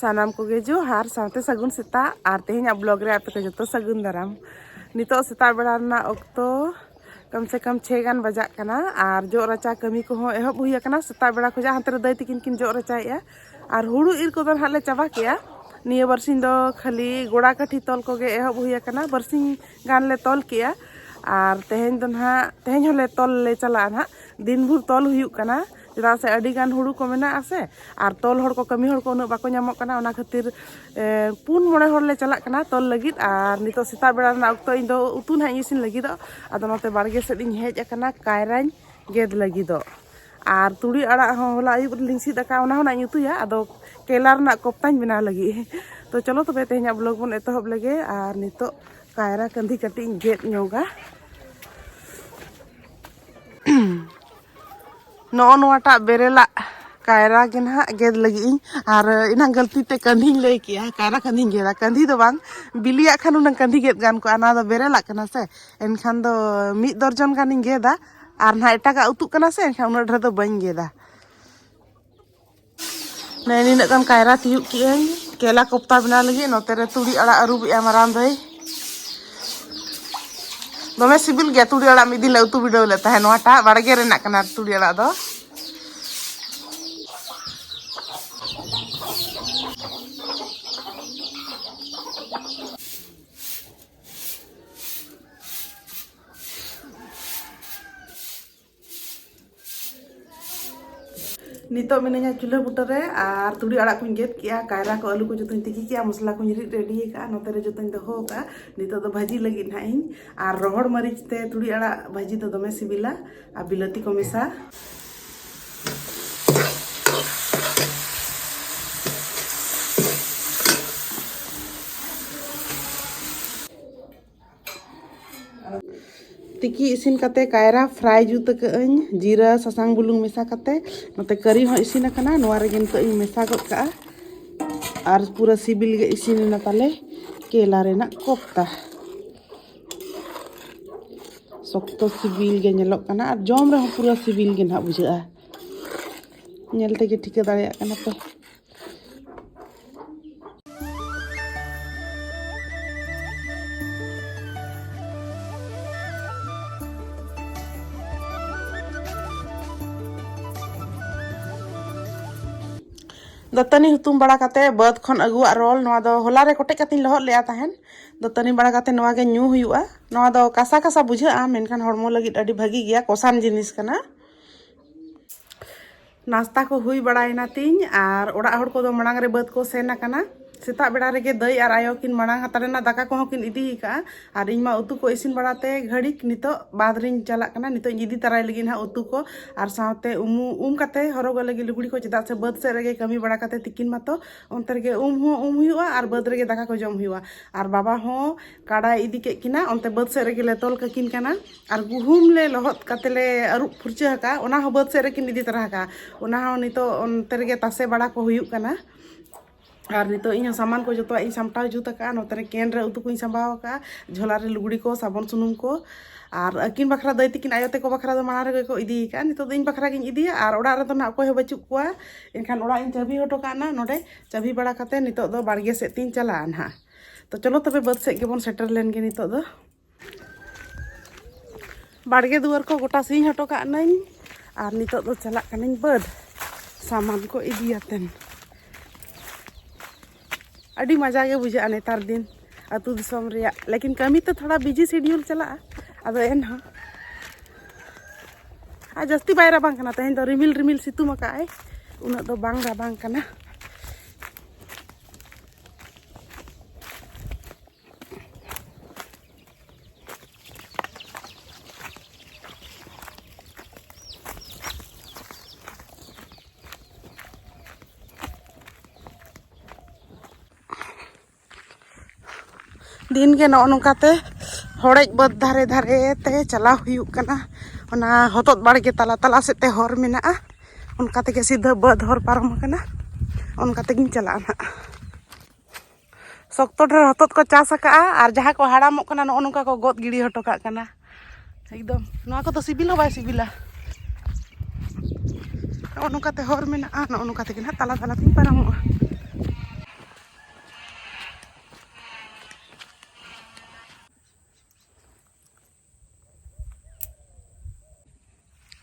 ᱥᱟᱱᱟᱢ ᱠᱚᱜᱮ ᱡᱚᱦᱟᱨ ᱥᱟᱶᱛᱮ ᱥᱟᱹᱜᱩᱱ ᱥᱮᱛᱟᱜ ᱟᱨ ᱛᱮᱦᱮᱧᱟᱜ ᱵᱞᱚᱜ ᱨᱮ ᱟᱯᱮ ᱠᱚ ᱡᱚᱛᱚ ᱥᱟᱹᱜᱩᱱ ᱫᱟᱨᱟᱢ ᱱᱤᱛᱚᱜ ᱥᱮᱛᱟᱜ ᱵᱮᱲᱟ ᱨᱮᱱᱟᱜ ᱚᱠᱛᱚ ᱠᱚᱢ ᱥᱮ ᱠᱚᱢ ᱪᱷᱮ ᱜᱟᱱ ᱵᱟᱡᱟᱜ ᱠᱟᱱᱟ ᱟᱨ ᱡᱚᱜ ᱨᱟᱪᱟ ᱠᱟᱹᱢᱤ ᱠᱚᱦᱚᱸ ᱮᱦᱚᱵ ᱦᱩᱭ ᱟᱠᱟᱱᱟ ᱥᱮᱛᱟᱜ ᱵᱮᱲᱟ ᱠᱷᱚᱡᱟᱜ ᱦᱟᱱᱛᱮ ᱨᱮ ᱫᱟᱹᱭ ᱛᱤᱠᱤᱱ ᱠᱤᱱ ᱡᱚᱜ ᱨᱟᱪᱟᱭᱮᱫᱼᱟ ᱟᱨ ᱦᱩᱲᱩ ᱤᱨ ᱠᱚᱫᱚ ᱱᱟᱦᱟᱜ ᱞᱮ ᱪᱟᱵᱟ ᱠᱮᱜᱼᱟ ᱱᱤᱭᱟᱹ ᱵᱟᱨᱥᱤᱧ ᱫᱚ ᱠᱷᱟᱹᱞᱤ ᱜᱚᱲᱟ ᱠᱟᱹᱴᱷᱤ ᱛᱚᱞ ᱠᱚᱜᱮ ᱮᱦᱚᱵ ᱦᱩᱭ ᱟᱠᱟᱱᱟ ᱵᱟᱨᱥᱤᱧ ᱜᱟᱱ ᱞᱮ ᱛᱚᱞ ᱠᱮᱜᱼᱟ ᱟᱨ ᱛᱮᱦᱮᱧ ᱫᱚ ᱱᱟᱦᱟᱜ ᱛᱮᱦᱮᱧ ᱦᱚᱸᱞᱮ ᱛᱚᱞ ᱞᱮ ᱪᱟᱞᱟᱜᱼᱟ ᱱᱟᱦᱟᱜ ᱫᱤᱱ ᱵᱷᱳᱨ ᱛᱚᱞ ᱦᱩᱭᱩᱜ ᱠᱟᱱᱟ ᱪᱮᱫᱟᱜ ᱥᱮ ᱟᱹᱰᱤ ᱜᱟᱱ ᱦᱩᱲᱩ ᱠᱚ ᱢᱮᱱᱟᱜᱼᱟ ᱥᱮ ᱟᱨ ᱛᱚᱞ ᱦᱚᱲ ᱠᱚ ᱠᱟᱹᱢᱤ ᱦᱚᱲ ᱠᱚ ᱩᱱᱟᱹᱜ ᱵᱟᱠᱚ ᱧᱟᱢᱚᱜ ᱠᱟᱱᱟ ᱚᱱᱟ ᱠᱷᱟᱹᱛᱤᱨ ᱯᱩᱱ ᱢᱚᱬᱮ ᱦᱚᱲ ᱞᱮ ᱪᱟᱞᱟᱜ ᱠᱟᱱᱟ ᱛᱚᱞ ᱞᱟᱹᱜᱤᱫ ᱟᱨ ᱱᱤᱛᱚᱜ ᱥᱮᱛᱟᱜ ᱵᱮᱲᱟ ᱨᱮᱱᱟᱜ ᱚᱠᱛᱚ ᱤᱧ ᱫᱚ ᱩᱛᱩ ᱱᱟᱦᱟᱜ ᱤᱧ ᱤᱥᱤᱱ ᱞᱟᱹᱜᱤᱫᱚᱜ ᱟᱫᱚ ᱱᱚᱛᱮ ᱵᱟᱲᱜᱮ ᱥᱮᱫ ᱤᱧ ᱦᱮᱡ ᱟᱠᱟᱱᱟ ᱠᱟᱭᱨᱟᱧ ᱜᱮᱫ ᱞᱟᱹᱜᱤᱫᱚᱜ ᱟᱨ ᱛᱩᱲᱤ ᱟᱲᱟᱜ ᱦᱚᱸ ᱦᱚᱞᱟ ᱟᱹᱭᱩᱵ ᱨᱮᱞᱤᱧ ᱥᱤᱫ ᱟᱠᱟᱫ ᱚᱱᱟ ᱦᱚᱸ ᱱᱟᱜ ᱩᱛᱩᱭᱟ ᱟᱫᱚ ᱠᱮᱞᱟ ᱨᱮᱱᱟᱜ ᱠᱚᱯᱛᱟᱧ ᱵᱮᱱᱟᱣ ᱞᱟᱹᱜᱤᱫ ᱛᱚ ᱪᱚᱞᱚ ᱛᱚᱵᱮ ᱛᱮᱦᱮᱧᱟᱜ ᱵᱞᱚᱜ ᱵᱚᱱ ᱮᱛᱚᱦᱚᱵ ᱞᱮᱜᱮ ᱟᱨ ᱱᱤᱛᱚᱜ ᱠᱟᱭᱨᱟ ᱠᱟᱹᱱᱫᱷᱤ ᱠᱟᱹᱴᱤᱡ ᱤᱧ ᱜᱮᱫ ᱧᱚᱜᱟ ᱱᱚᱜᱼᱚ ᱱᱚᱣᱟᱴᱟᱜ ᱵᱮᱨᱮᱞᱟᱜ ᱠᱟᱭᱨᱟ ᱜᱮ ᱱᱟᱦᱟᱜ ᱜᱮᱫ ᱞᱟᱹᱜᱤᱫ ᱤᱧ ᱟᱨ ᱮᱱᱟᱝ ᱜᱟᱹᱞᱛᱤ ᱛᱮ ᱠᱟᱹᱱᱫᱷᱤᱧ ᱞᱟᱹᱭ ᱠᱮᱜᱼᱟ ᱠᱟᱭᱨᱟ ᱠᱟᱹᱱᱫᱷᱤᱧ ᱜᱮᱫᱟ ᱠᱟᱹᱱᱫᱷᱤ ᱫᱚ ᱵᱟᱝ ᱵᱤᱞᱤᱭᱟᱜ ᱠᱷᱟᱱ ᱩᱱᱟᱹᱝ ᱠᱟᱹᱱᱫᱷᱤ ᱜᱮᱫ ᱜᱟᱱ ᱠᱚᱜᱼᱟ ᱱᱚᱣᱟ ᱫᱚ ᱵᱮᱨᱮᱞᱟᱜ ᱠᱟᱱᱟ ᱥᱮ ᱮᱱᱠᱷᱟᱱ ᱫᱚ ᱢᱤᱫ ᱫᱚᱨᱡᱚᱱ ᱜᱟᱱᱤᱧ ᱜᱮᱫᱟ ᱟᱨ ᱱᱟᱦᱟᱜ ᱮᱴᱟᱜᱟᱜ ᱩᱛᱩᱜ ᱠᱟᱱᱟ ᱥᱮ ᱮᱱᱠᱷᱟᱱ ᱩᱱᱟᱹᱜ ᱰᱷᱮᱨ ᱫᱚ ᱵᱟᱹᱧ ᱜᱮᱫᱟ ᱱᱮ ᱱᱤᱱᱟᱹᱜ ᱜᱟᱱ ᱠᱟᱭᱨᱟ ᱛᱤᱭᱩᱜ ᱠᱮᱜᱼᱟᱹᱧ ᱠᱮᱞᱟ ᱠᱚᱯᱛᱟ ᱵᱮᱱᱟᱣ ᱞᱟᱹᱜᱤᱫ ᱱᱚᱛᱮ ᱨᱮ ᱛᱩᱲᱤ ᱟᱲᱟᱜ ᱟᱹᱨᱩᱵᱮᱜᱼᱟ ᱢᱟᱨᱟᱝ ᱫᱟᱹᱭ ᱫᱚᱢᱮ ᱥᱤᱵᱤᱞ ᱜᱮᱭᱟ ᱛᱩᱲᱤ ᱟᱲᱟᱜ ᱢᱤᱫ ᱫᱤᱱ ᱞᱮ ᱩᱛᱩ ᱵᱤᱰᱟᱹᱣ ᱞᱮᱫ ᱛᱟᱦᱮᱸᱫ ᱱᱚᱣᱟᱴᱟᱜ ᱵᱟᱲᱜᱮ ᱨᱮᱱᱟᱜ ᱠᱟᱱᱟ ᱛᱩᱲᱤ ᱟᱲᱟᱜ ᱫᱚ ᱱᱤᱛᱚᱜ ᱢᱤᱱᱟᱹᱧᱟ ᱪᱩᱞᱦᱟᱹ ᱵᱩᱴᱟᱹ ᱨᱮ ᱟᱨ ᱛᱩᱲᱤ ᱟᱲᱟᱜ ᱠᱚᱧ ᱜᱮᱫ ᱠᱮᱜᱼᱟ ᱠᱟᱭᱨᱟ ᱠᱚ ᱟᱹᱞᱩ ᱠᱚ ᱡᱚᱛᱚᱧ ᱛᱤᱠᱤ ᱠᱮᱜᱼᱟ ᱢᱚᱥᱞᱟ ᱠᱚᱧ ᱨᱤᱫ ᱨᱮᱰᱤ ᱟᱠᱟᱫᱼᱟ ᱱᱚᱛᱮ ᱨᱮ ᱡᱚᱛᱚᱧ ᱫᱚᱦᱚ ᱟᱠᱟᱫᱼᱟ ᱱᱤᱛᱚᱜ ᱫᱚ ᱵᱷᱟᱹᱡᱤ ᱞᱟᱹᱜᱤᱫ ᱱᱟᱦᱟᱜ ᱤᱧ ᱟᱨ ᱨᱚᱦᱚᱲ ᱢᱟᱹᱨᱤᱪ ᱛᱮ ᱛᱩᱲᱤ ᱟᱲᱟᱜ ᱵᱷᱟᱹᱡᱤ ᱫᱚ ᱫᱚᱢᱮ ᱥᱤᱵᱤᱞᱟ ᱟᱨ ᱵᱤᱞᱟᱹᱛᱤ ᱠᱚ ᱢᱮᱥᱟ ᱛᱤᱠᱤ ᱤᱥᱤᱱ ᱠᱟᱛᱮ ᱠᱟᱭᱨᱟ ᱯᱷᱨᱟᱭ ᱡᱩᱛ ᱟᱹᱠᱟᱹᱜᱼᱟᱹᱧ ᱡᱤᱨᱟᱹ ᱥᱟᱥᱟᱝ ᱵᱩᱞᱩᱝ ᱢᱮᱥᱟ ᱠᱟᱛᱮ ᱱᱚᱛᱮ ᱠᱟᱹᱨᱤ ᱦᱚᱸ ᱤᱥᱤᱱ ᱟᱠᱟᱱᱟ ᱱᱚᱣᱟ ᱨᱮᱜᱮ ᱱᱤᱛᱚᱜ ᱤᱧ ᱢᱮᱥᱟ ᱜᱚᱫ ᱠᱟᱜᱼᱟ ᱟᱨ ᱯᱩᱨᱟᱹ ᱥᱤᱵᱤᱞ ᱜᱮ ᱤᱥᱤᱱ ᱮᱱᱟ ᱛᱟᱞᱮ ᱠᱮᱞᱟ ᱨᱮᱱᱟᱜ ᱠᱚᱯᱛᱟ ᱥᱚᱠᱛᱚ ᱥᱤᱵᱤᱞ ᱜᱮ ᱧᱮᱞᱚᱜ ᱠᱟᱱᱟ ᱟᱨ ᱡᱚᱢ ᱨᱮᱦᱚᱸ ᱯᱩᱨᱟᱹ ᱥᱤᱵᱤᱞ ᱜᱮ ᱱᱟᱦᱟᱜ ᱵᱩᱡᱷᱟᱹᱜᱼᱟ ᱧᱮᱞ ᱛᱮᱜᱮ ᱴᱷᱤᱠᱟᱹ ᱫᱟᱲᱮᱭᱟᱜ ᱠᱟᱱᱟ ᱯᱮ ᱫᱟᱹᱛᱟᱹᱱᱤ ᱦᱩᱛᱩᱢ ᱵᱟᱲᱟ ᱠᱟᱛᱮ ᱵᱟᱹᱫᱽ ᱠᱷᱚᱱ ᱟᱹᱜᱩᱣᱟᱜ ᱨᱚᱞ ᱱᱚᱣᱟ ᱫᱚ ᱦᱚᱞᱟ ᱨᱮ ᱠᱚᱴᱮᱡ ᱠᱟᱛᱮᱧ ᱞᱚᱦᱚᱫ ᱞᱮᱫᱟ ᱛᱟᱦᱮᱱ ᱫᱟᱹᱛᱟᱹᱱᱤ ᱵᱟᱲᱟ ᱠᱟᱛᱮ ᱱᱚᱣᱟ ᱜᱮ ᱧᱩ ᱦᱩᱭᱩᱜᱼᱟ ᱱᱚᱣᱟ ᱫᱚ ᱠᱟᱥᱟ ᱠᱟᱥᱟ ᱵᱩᱡᱷᱟᱹᱜᱼᱟ ᱢᱮᱱᱠᱷᱟᱱ ᱦᱚᱲᱢᱚ ᱞᱟᱹᱜᱤᱫ ᱟᱹᱰᱤ ᱵᱷᱟᱹᱜᱤ ᱜᱮᱭᱟ ᱠᱚᱥᱟᱱ ᱡᱤᱱᱤᱥ ᱠᱟᱱᱟ ᱱᱟᱥᱛᱟ ᱠᱚ ᱦᱩᱭ ᱵᱟᱲᱟᱭᱮᱱᱟ ᱛᱤᱧ ᱟᱨ ᱚᱲᱟᱜ ᱦᱚᱲ ᱠᱚᱫᱚ ᱢᱟᱲᱟᱝ ᱨᱮ ᱵᱟᱹᱫᱽ ᱠᱚ ᱥᱮᱱ ᱟᱠᱟᱱᱟ ᱥᱮᱛᱟᱜ ᱵᱮᱲᱟ ᱨᱮᱜᱮ ᱫᱟᱹᱭ ᱟᱨ ᱟᱭᱳ ᱠᱤᱱ ᱢᱟᱲᱟᱝ ᱦᱟᱛᱟᱲ ᱨᱮᱱᱟᱜ ᱫᱟᱠᱟ ᱠᱚᱦᱚᱸ ᱠᱤᱱ ᱤᱫᱤ ᱟᱠᱟᱫᱼᱟ ᱟᱨ ᱤᱧ ᱢᱟ ᱩᱛᱩ ᱠᱚ ᱤᱥᱤᱱ ᱵᱟᱲᱟᱛᱮ ᱜᱷᱟᱹᱲᱤᱠ ᱱᱤᱛᱚᱜ ᱵᱟᱫᱽ ᱨᱤᱧ ᱪᱟᱞᱟᱜ ᱠᱟᱱᱟ ᱱᱤᱛᱚᱜ ᱤᱧ ᱤᱫᱤ ᱛᱟᱨᱟᱭ ᱞᱟᱹᱜᱤᱫ ᱦᱟᱸᱜ ᱩᱛᱩ ᱠᱚ ᱟᱨ ᱥᱟᱶᱛᱮ ᱩᱢᱩ ᱩᱢ ᱠᱟᱛᱮ ᱦᱚᱨᱚᱜᱚᱜ ᱞᱟᱹᱜᱤᱫ ᱞᱩᱜᱽᱲᱤ ᱠᱚ ᱪᱮᱫᱟᱜ ᱥᱮ ᱵᱟᱹᱫᱽ ᱥᱮᱫ ᱨᱮᱜᱮ ᱠᱟᱹᱢᱤ ᱵᱟᱲᱟ ᱠᱟᱛᱮ ᱛᱤᱠᱤᱱ ᱢᱟᱛᱚ ᱚᱱᱛᱮ ᱨᱮᱜᱮ ᱩᱢ ᱦᱚᱸ ᱩᱢ ᱦᱩᱭᱩᱜᱼᱟ ᱟᱨ ᱵᱟᱹᱫᱽ ᱨᱮᱜᱮ ᱫᱟᱠᱟ ᱠᱚ ᱡᱚᱢ ᱦᱩᱭᱩᱜᱼᱟ ᱟᱨ ᱵᱟᱵᱟ ᱦᱚᱸ ᱠᱟᱰᱟᱭ ᱤᱫᱤ ᱠᱮᱫ ᱠᱤᱱᱟ ᱚᱱᱛᱮ ᱵᱟᱹᱫᱽ ᱥᱮᱫ ᱨᱮᱜᱮ ᱞᱮ ᱛᱚᱞ ᱠᱟᱹᱠᱤᱱ ᱠᱟᱱᱟ ᱟᱨ ᱜᱩᱦᱩᱢ ᱞᱮ ᱞᱚᱦᱚᱫ ᱠᱟᱛᱮ ᱞᱮ ᱟᱹᱨᱩᱵ ᱯᱷᱩᱨᱪᱟᱹ ᱟᱠᱟᱫᱼᱟ ᱚᱱᱟ ᱦᱚᱸ ᱵᱟᱹᱫᱽ ᱥᱮᱫ ᱨᱮᱠᱤᱱ ᱤᱫᱤ ᱛᱚᱨᱟ ᱟᱠᱟᱫᱼᱟ ᱚᱱᱟ ᱦᱚᱸ ᱱᱤᱛᱚᱜ ᱚᱱᱛᱮ ᱨᱮᱜᱮ ᱛᱟᱥᱮ ᱵᱟᱲᱟ ᱠᱚ ᱦᱩᱭᱩᱜ ᱠᱟᱱᱟ ᱟᱨ ᱱᱤᱛᱚᱜ ᱤᱧ ᱦᱚᱸ ᱥᱟᱢᱟᱱ ᱠᱚ ᱡᱚᱛᱚᱣᱟᱜ ᱤᱧ ᱥᱟᱢᱴᱟᱣ ᱡᱩᱛ ᱟᱠᱟᱫᱼᱟ ᱱᱚᱛᱮ ᱨᱮ ᱠᱮᱱ ᱨᱮ ᱩᱛᱩ ᱠᱚᱧ ᱥᱟᱢᱵᱟᱣ ᱟᱠᱟᱫᱼᱟ ᱡᱷᱚᱞᱟ ᱨᱮ ᱞᱩᱜᱽᱲᱤ ᱠᱚ ᱥᱟᱵᱚᱱ ᱥᱩᱱᱩᱢ ᱠᱚ ᱟᱨ ᱟᱹᱠᱤᱱ ᱵᱟᱠᱷᱨᱟ ᱫᱟᱹᱭ ᱛᱤᱠᱤᱱ ᱟᱭᱳ ᱛᱮᱠᱚ ᱵᱟᱠᱷᱨᱟ ᱫᱚ ᱢᱟᱲᱟᱝ ᱨᱮᱜᱮ ᱠᱚ ᱤᱫᱤ ᱟᱠᱟᱫᱼᱟ ᱱᱤᱛᱚᱜ ᱫᱚ ᱤᱧ ᱵᱟᱠᱷᱨᱟ ᱜᱤᱧ ᱤᱫᱤᱭᱟ ᱟᱨ ᱚᱲᱟᱜ ᱨᱮᱫᱚ ᱱᱟᱜ ᱚᱠᱚᱭ ᱦᱚᱸ ᱵᱟᱹᱪᱩᱜ ᱠᱚᱣᱟ ᱮᱱᱠᱷᱟᱱ ᱚᱲᱟᱜ ᱤᱧ ᱪᱟᱹᱵᱤ ᱦᱚᱴᱚ ᱠᱟᱜ ᱱᱟ ᱱᱚᱰᱮ ᱪᱟᱹᱵᱤ ᱵᱟᱲᱟ ᱠᱟᱛᱮ ᱱᱤᱛᱚᱜ ᱫᱚ ᱵᱟᱲᱜᱮ ᱥᱮᱫ ᱛᱤᱧ ᱪᱟᱞᱟᱜᱼᱟ ᱱᱟᱦᱟᱜ ᱛᱚ ᱪᱚᱞᱚ ᱛᱚᱵᱮ ᱵᱟᱹᱫᱽ ᱥᱮᱫ ᱜᱮᱵᱚᱱ ᱥᱮᱴᱮᱨ ᱞᱮᱱ ᱜᱮ ᱱᱤᱛᱚᱜ ᱫᱚ ᱵᱟᱲᱜᱮ ᱫᱩᱣᱟᱹᱨ ᱠᱚ ᱜᱚᱴᱟ ᱥᱤᱧ ᱦᱚᱴᱚ ᱠᱟᱜ ᱱᱟᱹᱧ ᱟᱨ ᱱᱤᱛᱚᱜ ᱫᱚ ᱪᱟᱞᱟᱜ ᱠᱟᱹᱱᱟᱹᱧ ᱵᱟᱹᱫᱽ ᱥᱟᱢᱟᱱ ᱠᱚ ᱤᱫᱤᱭᱟᱛᱮᱱ ᱟᱹᱰᱤ ᱢᱟᱡᱟ ᱜᱮ ᱵᱩᱡᱷᱟᱹᱜᱼᱟ ᱱᱮᱛᱟᱨ ᱫᱤᱱ ᱟᱹᱛᱩ ᱫᱤᱥᱚᱢ ᱨᱮᱭᱟᱜ ᱞᱮᱠᱤᱱ ᱠᱟᱹᱢᱤ ᱛᱮ ᱛᱷᱚᱲᱟ ᱵᱤᱡᱤ ᱥᱤᱰᱤᱭᱩᱞ ᱪᱟᱞᱟᱜᱼᱟ ᱟᱫᱚ ᱮᱱᱦᱚᱸ ᱟᱨ ᱡᱟᱹᱥᱛᱤ ᱵᱟᱭ ᱨᱟᱵᱟᱝ ᱠᱟᱱᱟ ᱛᱮᱦᱮᱧ ᱫᱚ ᱨᱤᱢᱤᱞ ᱨᱤᱢᱤᱞ ᱥᱤᱛᱩᱝ ᱟᱠᱟᱫ ᱟᱭ ᱩᱱᱟᱹᱜ ᱫᱚ ᱵᱟᱝ ᱨᱟᱵᱟᱝ ᱠᱟᱱᱟ ᱫᱤᱱᱜᱮ ᱱᱚᱜᱼᱚ ᱱᱚᱝᱠᱟᱛᱮ ᱦᱚᱲᱮᱡ ᱵᱟᱹᱫᱽ ᱫᱷᱟᱨᱮ ᱫᱷᱟᱨᱮ ᱛᱮ ᱪᱟᱞᱟᱣ ᱦᱩᱭᱩᱜ ᱠᱟᱱᱟ ᱚᱱᱟ ᱦᱚᱛᱚᱫ ᱵᱟᱲᱜᱮ ᱛᱟᱞᱟ ᱛᱟᱞᱟ ᱥᱮᱫ ᱛᱮ ᱦᱚᱨ ᱢᱮᱱᱟᱜᱼᱟ ᱚᱱᱠᱟ ᱛᱮᱜᱮ ᱥᱤᱫᱷᱟᱹ ᱵᱟᱹᱫᱽ ᱦᱚᱨ ᱯᱟᱨᱚᱢ ᱟᱠᱟᱱᱟ ᱚᱱᱠᱟ ᱛᱮᱜᱮᱧ ᱪᱟᱞᱟᱜᱼᱟ ᱱᱟᱦᱟᱜ ᱥᱚᱠᱛᱚ ᱰᱷᱮᱨ ᱦᱚᱛᱚᱫ ᱠᱚ ᱪᱟᱥ ᱟᱠᱟᱫᱼᱟ ᱟᱨ ᱡᱟᱦᱟᱸ ᱠᱚ ᱦᱟᱲᱟᱢᱚᱜ ᱠᱟᱱᱟ ᱱᱚᱜᱼᱚ ᱱᱚᱝᱠᱟ ᱠᱚ ᱜᱚᱫ ᱜᱤᱰᱤ ᱦᱚᱴᱚ ᱠᱟᱜ ᱠᱟᱱᱟ ᱮᱠᱫᱚᱢ ᱱᱚᱣᱟ ᱠᱚᱫᱚ ᱥᱤᱵᱤᱞ ᱦᱚᱸ ᱵᱟᱭ ᱥᱤᱵᱤᱞᱟ ᱱᱚᱜᱼᱚ ᱱᱚᱝᱠᱟᱛᱮ ᱦᱚᱨ ᱢᱮᱱᱟᱜᱼᱟ ᱱᱚᱜᱼᱚ ᱱᱚᱝᱠᱟ ᱛᱮᱜᱮ ᱱᱟᱦᱟᱜ ᱛᱟᱞᱟ ᱛᱟᱞᱟ ᱛᱮᱧ ᱯᱟᱨᱚᱢᱚᱜᱼᱟ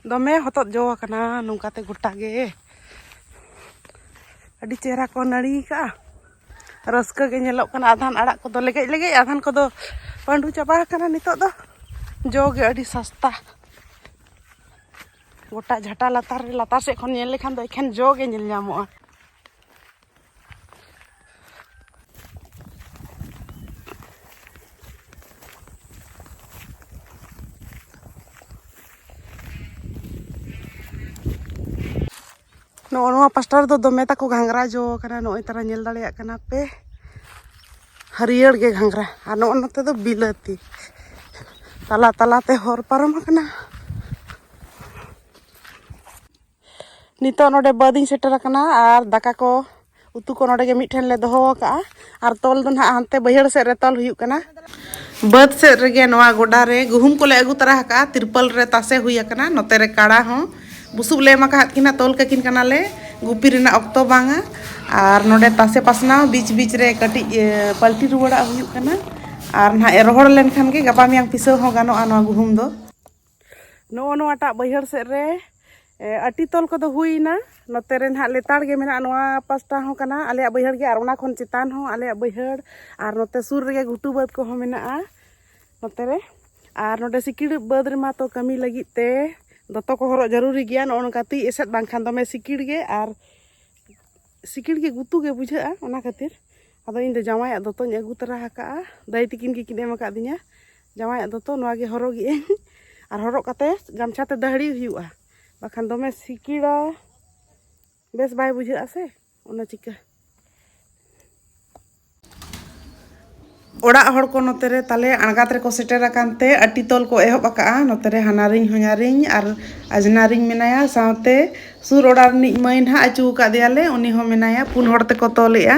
ᱫᱚᱢᱮ ᱦᱚᱛᱚᱫ ᱡᱚ ᱟᱠᱟᱱᱟ ᱱᱚᱝᱠᱟᱛᱮ ᱜᱚᱴᱟ ᱜᱮ ᱟᱹᱰᱤ ᱪᱮᱦᱨᱟ ᱠᱚ ᱱᱟᱹᱲᱤ ᱠᱟᱜᱼᱟ ᱨᱟᱹᱥᱠᱟᱹ ᱜᱮ ᱧᱮᱞᱚᱜ ᱠᱟᱱᱟ ᱟᱫᱷᱟᱱ ᱟᱲᱟᱜ ᱠᱚᱫᱚ ᱞᱮᱜᱮᱡ ᱞᱮᱜᱮᱡ ᱟᱫᱷᱟᱱ ᱠᱚᱫᱚ ᱯᱟᱺᱰᱩ ᱪᱟᱵᱟ ᱟᱠᱟᱱᱟ ᱱᱤᱛᱚᱜ ᱫᱚ ᱡᱚ ᱜᱮ ᱟᱹᱰᱤ ᱥᱟᱥᱛᱟ ᱜᱚᱴᱟ ᱡᱷᱟᱴᱟ ᱞᱟᱛᱟᱨ ᱨᱮ ᱞᱟᱛᱟᱨ ᱥᱮᱫ ᱠᱷᱚᱱ ᱧᱮᱞ ᱞᱮᱠᱷᱟᱱ ᱫᱚ ᱮᱠᱷᱮᱱ ᱡᱚ ᱜᱮ ᱧᱮᱞ ᱧᱟᱢᱚᱜᱼᱟ ᱱᱚᱜᱼᱚ ᱱᱚᱣᱟ ᱯᱟᱥᱴᱟ ᱨᱮᱫᱚ ᱫᱚᱢᱮ ᱛᱟᱠᱚ ᱜᱷᱟᱸᱜᱽᱨᱟ ᱡᱚ ᱠᱟᱱᱟ ᱱᱚᱜᱼᱚᱭ ᱛᱟᱨᱟ ᱧᱮᱞ ᱫᱟᱲᱮᱭᱟᱜ ᱠᱟᱱᱟ ᱯᱮ ᱦᱟᱹᱨᱭᱟᱹᱲ ᱜᱮ ᱜᱷᱟᱸᱜᱽᱨᱟ ᱟᱨ ᱱᱚᱜᱼᱚ ᱱᱚᱛᱮ ᱫᱚ ᱵᱤᱞᱟᱹᱛᱤ ᱛᱟᱞᱟ ᱛᱟᱞᱟᱛᱮ ᱦᱚᱨ ᱯᱟᱨᱚᱢ ᱟᱠᱟᱱᱟ ᱱᱤᱛᱚᱜ ᱱᱚᱰᱮ ᱵᱟᱹᱫᱤᱧ ᱥᱮᱴᱮᱨ ᱟᱠᱟᱱᱟ ᱟᱨ ᱫᱟᱠᱟ ᱠᱚ ᱩᱛᱩ ᱠᱚ ᱱᱚᱰᱮ ᱜᱮ ᱢᱤᱫᱴᱷᱮᱱ ᱞᱮ ᱫᱚᱦᱚ ᱟᱠᱟᱜᱼᱟ ᱟᱨ ᱛᱚᱞ ᱫᱚ ᱱᱟᱦᱟᱜ ᱦᱟᱱᱛᱮ ᱵᱟᱹᱭᱦᱟᱹᱲ ᱥᱮᱫ ᱨᱮ ᱛᱚᱞ ᱦᱩᱭᱩᱜ ᱠᱟᱱᱟ ᱵᱟᱹᱫ ᱥᱮᱫ ᱨᱮᱜᱮ ᱱᱚᱣᱟ ᱜᱚᱰᱟ ᱨᱮ ᱜᱩᱦᱩᱢ ᱠᱚᱞᱮ ᱟᱹᱜᱩ ᱛᱟᱨᱟ ᱟᱠᱟᱜᱼᱟ ᱛᱤᱨᱯᱟᱞ ᱨᱮ ᱛᱟᱥᱮ ᱦᱩᱭ ᱟᱠᱟᱱᱟ ᱱᱚᱛᱮ ᱨᱮ ᱠᱟᱲᱟ ᱦᱚᱸ ᱵᱩᱥᱩᱵ ᱞᱮ ᱮᱢ ᱟᱠᱟᱫ ᱠᱤᱱᱟ ᱛᱚᱞ ᱠᱟᱹᱠᱤᱱ ᱠᱟᱱᱟᱞᱮ ᱜᱩᱯᱤ ᱨᱮᱱᱟᱜ ᱚᱠᱛᱚ ᱵᱟᱝᱟ ᱟᱨ ᱱᱚᱰᱮ ᱛᱟᱥᱮ ᱯᱟᱥᱱᱟᱣ ᱵᱤᱪ ᱵᱤᱪ ᱨᱮ ᱠᱟᱹᱴᱤᱡ ᱯᱟᱞᱴᱤ ᱨᱩᱣᱟᱹᱲᱟᱜ ᱦᱩᱭᱩᱜ ᱠᱟᱱᱟ ᱟᱨ ᱱᱟᱦᱟᱜ ᱨᱚᱦᱚᱲ ᱞᱮᱱᱠᱷᱟᱱ ᱜᱮ ᱜᱟᱯᱟ ᱢᱮᱭᱟᱝ ᱯᱤᱥᱟᱹᱣ ᱦᱚᱸ ᱜᱟᱱᱚᱜᱼᱟ ᱱᱚᱣᱟ ᱜᱩᱦᱩᱢ ᱫᱚ ᱱᱚᱜᱼᱚ ᱱᱚᱣᱟᱴᱟᱜ ᱵᱟᱹᱭᱦᱟᱹᱲ ᱥᱮᱫ ᱨᱮ ᱟᱹᱴᱤ ᱛᱚᱞ ᱠᱚᱫᱚ ᱦᱩᱭᱱᱟ ᱱᱚᱛᱮ ᱨᱮ ᱱᱟᱦᱟᱜ ᱞᱮᱛᱟᱲ ᱜᱮ ᱢᱮᱱᱟᱜᱼᱟ ᱱᱚᱣᱟ ᱯᱟᱥᱴᱟ ᱦᱚᱸ ᱠᱟᱱᱟ ᱟᱞᱮᱭᱟᱜ ᱵᱟᱹᱭᱦᱟᱹᱲ ᱜᱮ ᱟᱨ ᱚᱱᱟ ᱠᱷᱚᱱ ᱪᱮᱛᱟᱱ ᱦᱚᱸ ᱟᱞᱮᱭᱟᱜ ᱵᱟᱹᱭᱦᱟᱹᱲ ᱟᱨ ᱱᱚᱛᱮ ᱥᱩᱨ ᱨᱮᱜᱮ ᱜᱷᱩᱴᱩ ᱵᱟᱹᱫᱽ ᱠᱚᱦᱚᱸ ᱢᱮᱱᱟᱜᱼᱟ ᱱᱚᱛᱮ ᱨᱮ ᱟᱨ ᱱᱚᱰᱮ ᱥᱤᱠᱤᱲ ᱵᱟᱹᱫᱽ ᱨᱮᱢᱟ ᱛᱚ ᱠᱟᱹᱢᱤ ᱞᱟᱹᱜᱤᱫ ᱛᱮ ᱫᱚᱛᱚ ᱠᱚ ᱦᱚᱨᱚᱜ ᱡᱟᱹᱨᱩᱨᱤ ᱜᱮᱭᱟ ᱱᱚᱜᱼᱚ ᱱᱚᱝᱠᱟ ᱛᱤ ᱮᱥᱮᱫ ᱵᱟᱝᱠᱷᱟᱱ ᱫᱚᱢᱮ ᱥᱤᱠᱤᱲ ᱜᱮ ᱟᱨ ᱥᱤᱠᱤᱲ ᱜᱮ ᱜᱩᱛᱩ ᱜᱮ ᱵᱩᱡᱷᱟᱹᱜᱼᱟ ᱚᱱᱟ ᱠᱷᱟᱹᱛᱤᱨ ᱟᱫᱚ ᱤᱧ ᱫᱚ ᱡᱟᱶᱟᱭᱟᱜ ᱫᱚᱛᱚᱧ ᱟᱹᱜᱩ ᱛᱟᱨᱟ ᱟᱠᱟᱫᱼᱟ ᱫᱟᱹᱭ ᱛᱤᱠᱤᱱ ᱜᱮᱠᱤᱱ ᱮᱢ ᱟᱠᱟᱫᱤᱧᱟ ᱡᱟᱶᱟᱭᱟᱜ ᱫᱚᱛᱚ ᱱᱚᱣᱟ ᱜᱮ ᱦᱚᱨᱚᱜᱮᱜ ᱟᱹᱧ ᱟᱨ ᱦᱚᱨᱚᱜ ᱠᱟᱛᱮ ᱜᱟᱢᱪᱷᱟ ᱛᱮ ᱫᱟᱹᱦᱲᱤ ᱦᱩᱭᱩᱜᱼᱟ ᱵᱟᱠᱷᱟᱱ ᱫᱚᱢᱮ ᱥᱤᱠᱤᱲᱟ ᱵᱮᱥ ᱵᱟᱭ ᱵᱩᱡᱷᱟᱹᱜᱼᱟ ᱥᱮ ᱚᱱᱟ ᱪᱤᱠᱟᱹ ᱚᱲᱟᱜ ᱦᱚᱲ ᱠᱚ ᱱᱚᱛᱮ ᱨᱮ ᱛᱟᱞᱮ ᱟᱬᱜᱟᱛ ᱨᱮᱠᱚ ᱥᱮᱴᱮᱨ ᱟᱠᱟᱱ ᱛᱮ ᱟᱹᱴᱤ ᱛᱚᱞ ᱠᱚ ᱮᱦᱚᱵ ᱟᱠᱟᱜᱼᱟ ᱱᱚᱛᱮ ᱨᱮ ᱦᱟᱱᱟᱨᱤᱧ ᱦᱚᱧᱟᱨᱤᱧ ᱟᱨ ᱟᱡᱽᱱᱟᱨᱤᱧ ᱢᱮᱱᱟᱭᱟ ᱥᱟᱶᱛᱮ ᱥᱩᱨ ᱚᱲᱟᱜ ᱨᱤᱱᱤᱡ ᱢᱟᱹᱭ ᱱᱟᱦᱟᱜ ᱟᱹᱪᱩ ᱟᱠᱟᱫᱮᱭᱟᱞᱮ ᱩᱱᱤ ᱦᱚᱸ ᱢᱮᱱᱟᱭᱟ ᱯᱩᱱ ᱦᱚᱲ ᱛᱮᱠᱚ ᱛᱚᱞᱮᱜᱼᱟ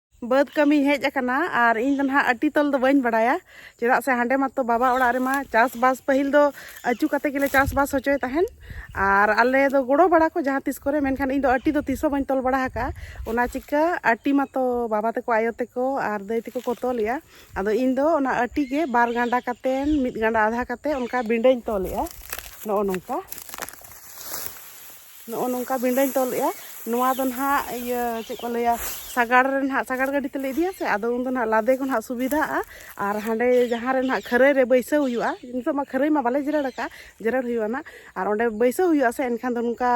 ᱵᱟᱹᱫᱽ ᱠᱟᱹᱢᱤ ᱦᱮᱡ ᱟᱠᱟᱱᱟ ᱟᱨ ᱤᱧ ᱫᱚ ᱱᱟᱦᱟᱜ ᱟᱹᱴᱤ ᱛᱚᱞ ᱫᱚ ᱵᱟᱹᱧ ᱵᱟᱲᱟᱭᱟ ᱪᱮᱫᱟᱜ ᱥᱮ ᱦᱟᱸᱰᱮ ᱢᱟᱛᱚ ᱵᱟᱵᱟ ᱚᱲᱟᱜ ᱨᱮᱢᱟ ᱪᱟᱥᱵᱟᱥ ᱯᱟᱹᱦᱤᱞ ᱫᱚ ᱟᱹᱪᱩ ᱠᱟᱛᱮ ᱜᱮᱞᱮ ᱪᱟᱥᱵᱟᱥ ᱦᱚᱪᱚᱭ ᱛᱟᱦᱮᱱ ᱟᱨ ᱟᱞᱮ ᱫᱚ ᱜᱚᱲᱚ ᱵᱟᱲᱟ ᱠᱚ ᱡᱟᱦᱟᱸ ᱛᱤᱥ ᱠᱚᱨᱮ ᱢᱮᱱᱠᱷᱟᱱ ᱤᱧ ᱫᱚ ᱟᱹᱴᱤ ᱫᱚ ᱛᱤᱥ ᱦᱚᱸ ᱵᱟᱹᱧ ᱛᱚᱞ ᱵᱟᱲᱟ ᱟᱠᱟᱫᱼᱟ ᱚᱱᱟ ᱪᱤᱠᱟᱹ ᱟᱹᱴᱤ ᱢᱟᱛᱚ ᱵᱟᱵᱟ ᱛᱟᱠᱚ ᱟᱭᱳ ᱛᱟᱠᱚ ᱟᱨ ᱫᱟᱹᱭ ᱛᱟᱠᱚ ᱠᱚ ᱛᱚᱞᱮᱜᱼᱟ ᱟᱫᱚ ᱤᱧ ᱫᱚ ᱚᱱᱟ ᱟᱹᱴᱤ ᱜᱮ ᱵᱟᱨ ᱜᱟᱸᱰᱟ ᱠᱟᱛᱮ ᱢᱤᱫ ᱜᱟᱸᱰᱟ ᱟᱫᱷᱟ ᱠᱟᱛᱮ ᱚᱱᱠᱟ ᱵᱤᱸᱰᱟᱹᱧ ᱛᱚᱞᱮᱜᱼᱟ ᱱᱚᱜᱼᱚ ᱱᱚᱝᱠᱟ ᱱᱚᱜᱼᱚ ᱱᱚᱝᱠᱟ ᱵᱤᱸᱰᱟᱹᱧ ᱛᱚᱞ ᱮᱫᱼᱟ ᱱᱚᱣᱟ ᱫᱚ ᱱᱟᱦᱟᱜ ᱤᱭᱟᱹ ᱪᱮᱫ ᱠᱚ ᱞᱟᱹᱭᱟ ᱥᱟᱜᱟᱲ ᱨᱮ ᱱᱟᱦᱟᱜ ᱥᱟᱜᱟᱲ ᱜᱟᱹᱰᱤ ᱛᱮᱞᱮ ᱤᱫᱤᱭᱟ ᱥᱮ ᱟᱫᱚ ᱩᱱ ᱫᱚ ᱱᱟᱦᱟᱜ ᱞᱟᱫᱮ ᱠᱚ ᱱᱟᱦᱟᱜ ᱥᱩᱵᱤᱫᱷᱟᱜᱼᱟ ᱟᱨ ᱦᱟᱸᱰᱮ ᱡᱟᱦᱟᱸ ᱨᱮ ᱱᱟᱦᱟᱜ ᱠᱷᱟᱹᱨᱟᱹᱭ ᱨᱮ ᱵᱟᱹᱭᱥᱟᱹᱣ ᱦᱩᱭᱩᱜᱼᱟ ᱱᱤᱛᱚᱜ ᱢᱟ ᱠᱷᱟᱹᱨᱟᱹᱭ ᱢᱟ ᱵᱟᱞᱮ ᱡᱮᱨᱮᱲ ᱟᱠᱟᱫᱼᱟ ᱡᱮᱨᱮᱲ ᱦᱩᱭᱩᱜᱼᱟ ᱱᱟᱦᱟᱜ ᱟᱨ ᱚᱸᱰᱮ ᱵᱟᱹᱭᱥᱟᱹᱣ ᱦᱩᱭᱩᱜᱼᱟ ᱥᱮ ᱮᱱᱠᱷᱟᱱ ᱫᱚ ᱱᱚᱝᱠᱟ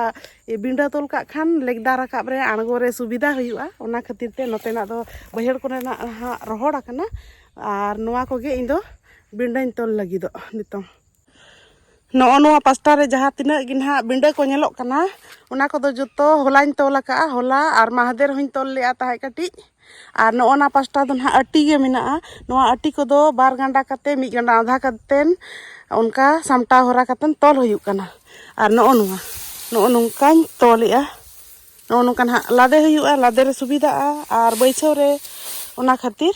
ᱵᱤᱸᱰᱟᱹ ᱛᱚᱞ ᱠᱟᱜ ᱠᱷᱟᱱ ᱞᱮᱜᱽᱫᱟ ᱨᱟᱠᱟᱵ ᱨᱮ ᱟᱬᱜᱚ ᱨᱮ ᱥᱩᱵᱤᱫᱷᱟ ᱦᱩᱭᱩᱜᱼᱟ ᱚᱱᱟ ᱠᱷᱟᱹᱛᱤᱨ ᱛᱮ ᱱᱚᱛᱮᱱᱟᱜ ᱫᱚ ᱵᱟᱹᱭᱦᱟᱹᱲ ᱠᱚᱨᱮᱱᱟᱜ ᱱᱟᱦᱟᱜ ᱨᱚᱦᱚᱲ ᱟᱠᱟᱱᱟ ᱟᱨ ᱱᱚᱣᱟ ᱠᱚᱜᱮ ᱤᱧ ᱫᱚ ᱵᱤᱸᱰᱟᱹᱧ ᱛᱚᱞ ᱞᱟᱹᱜᱤᱫᱚᱜ ᱱᱤᱛᱚᱝ ᱱᱚᱜᱼᱚ ᱱᱚᱣᱟ ᱯᱟᱥᱴᱟ ᱨᱮ ᱡᱟᱦᱟᱸ ᱛᱤᱱᱟᱹᱜ ᱜᱮ ᱱᱟᱦᱟᱜ ᱵᱤᱸᱰᱟᱹ ᱠᱚ ᱧᱮᱞᱚᱜ ᱠᱟᱱᱟ ᱚᱱᱟ ᱠᱚᱫᱚ ᱡᱚᱛᱚ ᱦᱚᱞᱟᱧ ᱛᱚᱞ ᱟᱠᱟᱫᱼᱟ ᱦᱚᱞᱟ ᱟᱨ ᱢᱟᱦᱫᱮᱨ ᱦᱚᱧ ᱛᱚᱞ ᱞᱮᱫᱼᱟ ᱛᱟᱦᱮᱸᱫ ᱠᱟᱹᱴᱤᱡ ᱟᱨ ᱱᱚᱜᱼᱚ ᱱᱟ ᱯᱟᱥᱴᱟ ᱫᱚ ᱱᱟᱦᱟᱜ ᱟᱹᱴᱤ ᱜᱮ ᱢᱮᱱᱟᱜᱼᱟ ᱱᱚᱣᱟ ᱟᱹᱴᱤ ᱠᱚᱫᱚ ᱵᱟᱨ ᱜᱟᱸᱰᱟ ᱠᱟᱛᱮ ᱢᱤᱫ ᱜᱟᱸᱰᱟ ᱟᱫᱷᱟ ᱠᱟᱛᱮᱱ ᱚᱱᱠᱟ ᱥᱟᱢᱴᱟᱣ ᱦᱚᱨᱟ ᱠᱟᱛᱮᱱ ᱛᱚᱞ ᱦᱩᱭᱩᱜ ᱠᱟᱱᱟ ᱟᱨ ᱱᱚᱜᱼᱚ ᱱᱚᱣᱟ ᱱᱚᱜᱼᱚ ᱱᱚᱝᱠᱟᱧ ᱛᱚᱞᱮᱫᱼᱟ ᱱᱚᱜᱼᱚ ᱱᱚᱝᱠᱟ ᱱᱟᱦᱟᱜ ᱞᱟᱫᱮ ᱦᱩᱭᱩᱜᱼᱟ ᱞᱟᱫᱮ ᱨᱮ ᱥᱩᱵᱤᱫᱷᱟᱜᱼᱟ ᱟᱨ ᱵᱟᱹᱭᱥᱟᱹᱣ ᱨᱮ ᱚᱱᱟ ᱠᱷᱟᱹᱛᱤᱨ